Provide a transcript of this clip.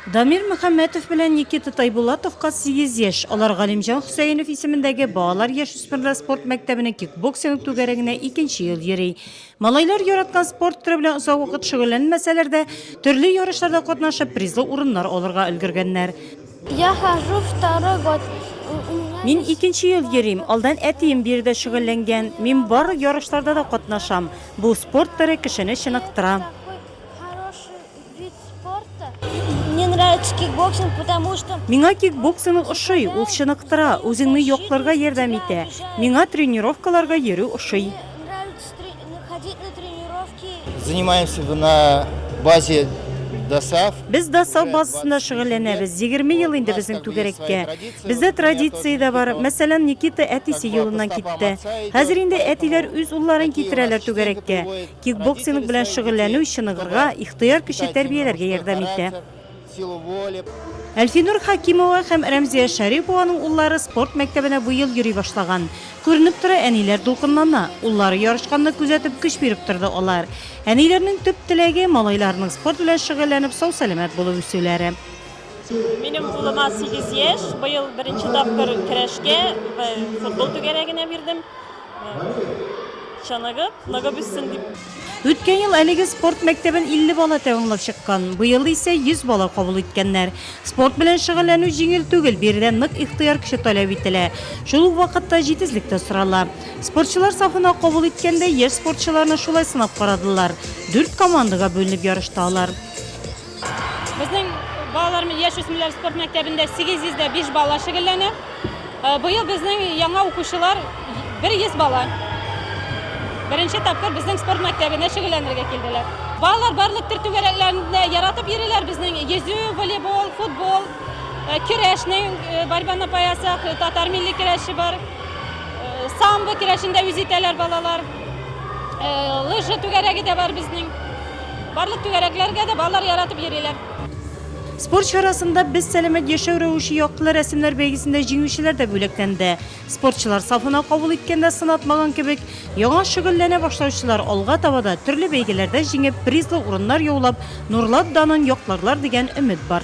Дамир Мөхәммәтов белән Никита Тайбулатовка сигез яшь. Алар Галимҗан Хөсәенов исемендәге балалар-яшүсмерләр спорт мәктәбенең кикбоксинг түгәрәгенә икенче ел йөри. Малайлар яраткан спорт төре белән озак вакыт шөгыльләнмәсәләр дә, төрле ярышларда катнашып, призлы урыннар алырга өлгергәннәр. Я хожу второй год. У меня Мин икенче ел йөрим. Алдан әтием биредә шөгыльләнгән. Мин барлык ярышларда да катнашам. Бу спорт төре кешене чыныктыра. такой хороший Миңа кикбоксинг ошый, ул чыныктыра, үзеңне якларга ярдәм итә. Миңа тренировкаларга йөрү ошый. Занимаемся на базе ДОСАВ. Без ДОСАВ базасында шөгыльләнәбез. 20 ел инде безнең түгәрәккә. Бездә традиция дә бар. Мәсәлән, Никита әтисе юлыннан китте. Хәзер инде әтиләр үз улларын китерәләр түгәрәккә. Кикбоксинг белән шөгыльләнү чыныгырга, ихтыяр көче тәрбияләргә ярдәм итә. Әлфинур Хәкимова һәм Рәмзия Шәрипованың уллары спорт мәктәбенә бу ел йөри башлаган. Күренеп тора, әниләр дулкынлана. Уллары ярышканны күзәтеп, көч биреп торды алар. Әниләрнең төп теләге, малайларының спорт белән шөгыльләнеп, сау-сәламәт булып үсүләре. Минем улыма сигез яшь, быел беренче тапкыр көрәшкә, футбол түгәрәгенә бирдем. Чыныгып, ныгып үссен дип. Үткән ел әлеге спорт мәктәбен 50 бала тәмамлап чыккан. Быел исә 100 бала кабул иткәннәр. Спорт белән шөгыльләнү җиңел түгел, биредә нык ихтыяр көче таләп ителә. Шул ук вакытта җитезлек тә сорала. Спортчылар сафына кабул иткәндә, яшь спортчыларны шулай сынап карадылар. Дүрт командага бүленеп ярышты алар. Безнең балалар яшь үсмерләр спорт мәктәбендә 805 бала шөгыльләнә. Э, быел безнең яңа укучылар 100 бала. Беренче тапкыр безнең спорт мәктәбенә шөгыльләнергә килделәр. Балалар барлык төр түгәрәкләрендә яратып йөриләр. Безнең йөзү, волейбол, футбол, э, көрәшнең э, борьба на паясах, э, татар милли көрәше бар. Самбо көрәшендә үз итәләр балалар. Лыжа түгәрәге дә бар безнең. Барлык түгәрәкләргә дә балалар яратып йөриләр. Спорт чарасында Без сәламәт яшәү рәвеше яктылы рәсемнәр бәйгесендә җиңүчеләр дә бүләкләнде. Спортчылар сафына кабул иткәндә сынатмаган кебек, яңа шөгыльләнә башлаучылар алга таба да төрле бәйгеләрдә җиңеп, призлы урыннар яулап, Нурлат данын якларлар дигән өмет бар.